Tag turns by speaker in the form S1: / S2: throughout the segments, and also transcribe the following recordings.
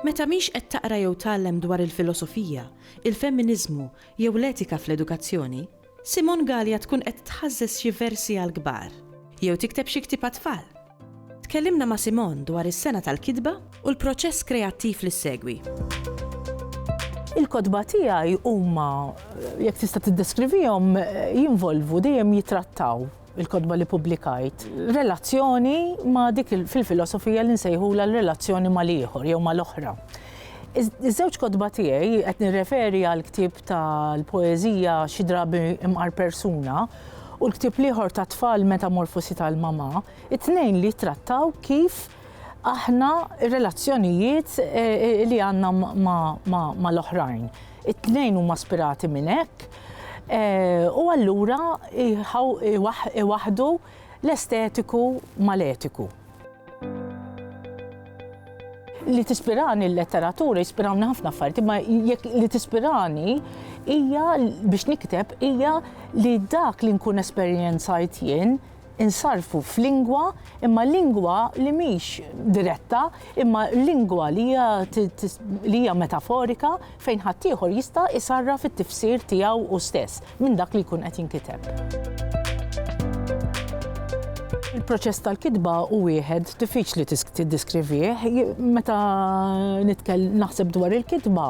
S1: Meta mhix qed taqra jew tgħallem dwar il-filosofija, il-femminiżmu jew l-etika fl-edukazzjoni, Simon Galea tkun qed tħażżeż xi versi għall-kbar, jew tikteb xi ktieb għat-tfal? Tkellimna ma' Simon dwar is-sena tal-kitba u l-proċess kreattiv li ssegwi.
S2: Il-kotba tiegħi huma, jekk tista' tiddeskrivihom, jinvolvu, dejjem jittrattaw il-kotba li pubblikajt, relazzjoni ma' dik fil-filosofija li nsejħula l-relazzjoni ma' l-ieħor jew ma' l-oħra. Iż-żewġ kotba tiegħi qed nirreferi għal ktieb tal-poeżija xi drabi imqar persuna u l-ktieb l-ieħor ta' tfal metamorfosi tal-mama, it-tnejn li jittrattaw kif aħna relazzjonijiet eh, eh, li għandna ma' l-oħrajn. It-tnejn huma spirati minn hekk, u allura iwaħħdu l-estetiku mal-etiku. Li tispirani l-letteratura, jispirawni ħafna affarijiet, imma jekk li tispirani hija biex nikteb hija li dak li nkun esperjenzajt jien, insarrfu f'lingwa, imma lingwa li mhix diretta, imma lingwa li hija li hija metaforika fejn ħaddieħor jista' jsarraf it-tifsir tiegħu hu stess minn dak li jkun qed jinkiteb. Il-proċess tal-kitba hu wieħed diffiċli tiddiskrivih. Meta naħseb dwar il-kitba,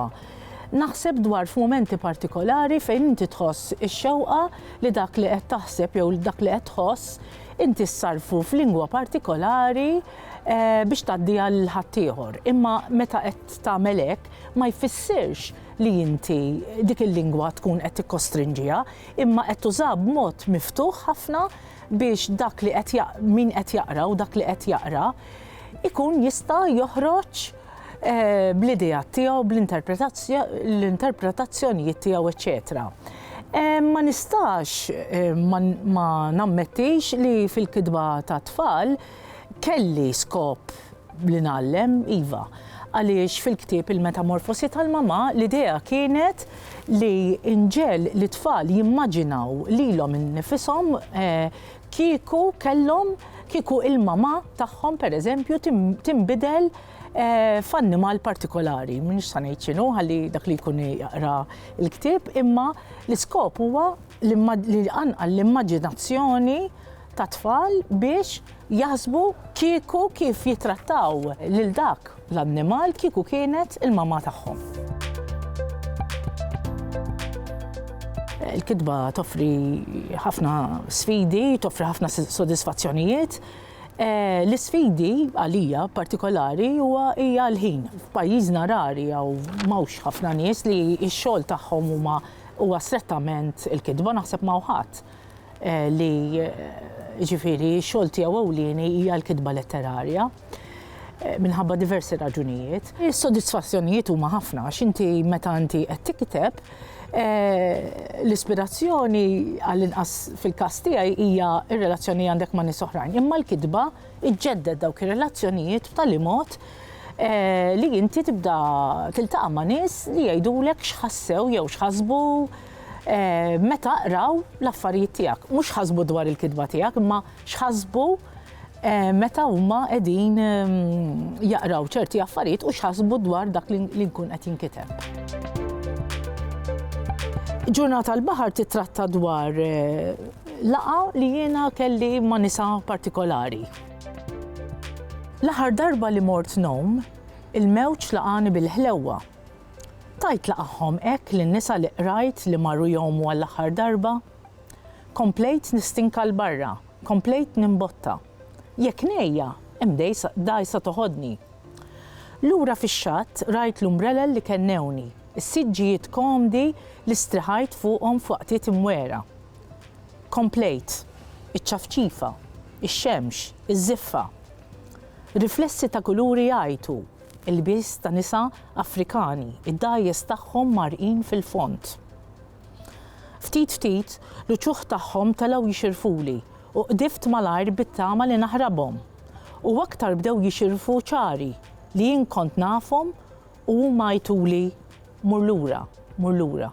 S2: naħseb dwar f'mumenti partikolari fejn inti tħoss ix-xewqa li dak li qed taħseb jew dak li qed tħoss inti ssarrfu f'lingwa partikolari eh, biex tgħaddiha l ħaddieħor. Imma meta qed tagħmel hekk ma jfissirx li inti dik il-lingwa tkun qed tikkostrinġiha, imma qed tuża b'mod miftuħ ħafna biex dak li qed min qed jaqra u dak li qed jaqra ikun jista' joħroġ bl-ideat tiegħu, bl-interpretazzjonijiet tiegħu, eċċetera. Ma nistax ma nammettix li fil-kitba ta' tfal kelli skop li nallem, iva, għaliex fil-ktieb il-metamorfosi tal-mama l-idea kienet li inġel li tfal jimmaġinaw lilhom innifisom eh, kieku kellhom kieku il-mama tagħhom pereżempju tinbidel eh, f'annimal partikolari, minix sa ngħid x'inhu ħalli dak li jkun jaqra l-ktieb, imma l-iskop huwa li anqal l-immaġinazzjoni ta' tfal biex jaħsbu kieku kif jitrattaw lil dak l-annimal kieku kienet il-mamma tagħhom. Il-kitba toffri ħafna sfidi, toffri ħafna sodisfazzjonijiet. Eh, l-isfidi għalija partikolari huwa hija l-ħin. F'pajjiżna rari jew mawx ħafna nies li x-xogħol tagħhom huma huwa strettament il-kitba naħseb ma' ħadd eh, li eh, ġifieri x-xogħol tiegħu ewlieni hija l-kitba letterarja. minħabba diversi raġunijiet. Is-sodisfazzjonijiet huma ħafna għax inti meta inti qed tikteb eh, l-ispirazzjoni għall-inqas fil-każ tiegħi hija r-relazzjoni għandek ma' nies oħrajn. Imma l-kitba iġġedded dawk ir-relazzjonijiet b'tali mod eh, li inti tibda tiltaqa' ma' nies li jgħidulek x'ħassew jew x'ħasbu eh, meta qraw l-affarijiet tiegħek. Mhux ħasbu dwar il-kitba tiegħek, imma x'ħasbu meta huma qegħdin jaqraw ċerti affarijiet u x'ħasbu dwar dak li nkun qed jinkiteb. Ġurnata l-Baħar titratta dwar eh, laqa li jiena kelli ma' nisa partikolari. L-aħħar darba li mort nom, il-mewġ laqani bil-ħlewwa. Tajt laqahom hekk lin-nisa li qrajt li marru jgħumu għall-aħħar darba Komplejt nistinka 'l barra, komplejt nimbotta. Jekk ngħejja, hemm dgħajsa toħodni. Lura fix-xatt rajt l-umbrelel li kennewni, is-siġġijiet komdi li striħajt fuqhom f'waqtiet imwegħra. Komplejt, iċ-ċafċifa, ix-xemx, iż-żiffa. Riflessi ta' kuluri jgħajtu, ilbies ta' nisa Afrikani, id-dgħajjes tagħhom mgħarrqin fil-fond. Ftit ftit, l-uċuħ tagħhom telgħu jixirfuli u qdift malajr bit-tama li naħrabhom. U aktar bdew jixirfu ċari li jien kont nafhom u huma għajtuli mur lura, mur lura.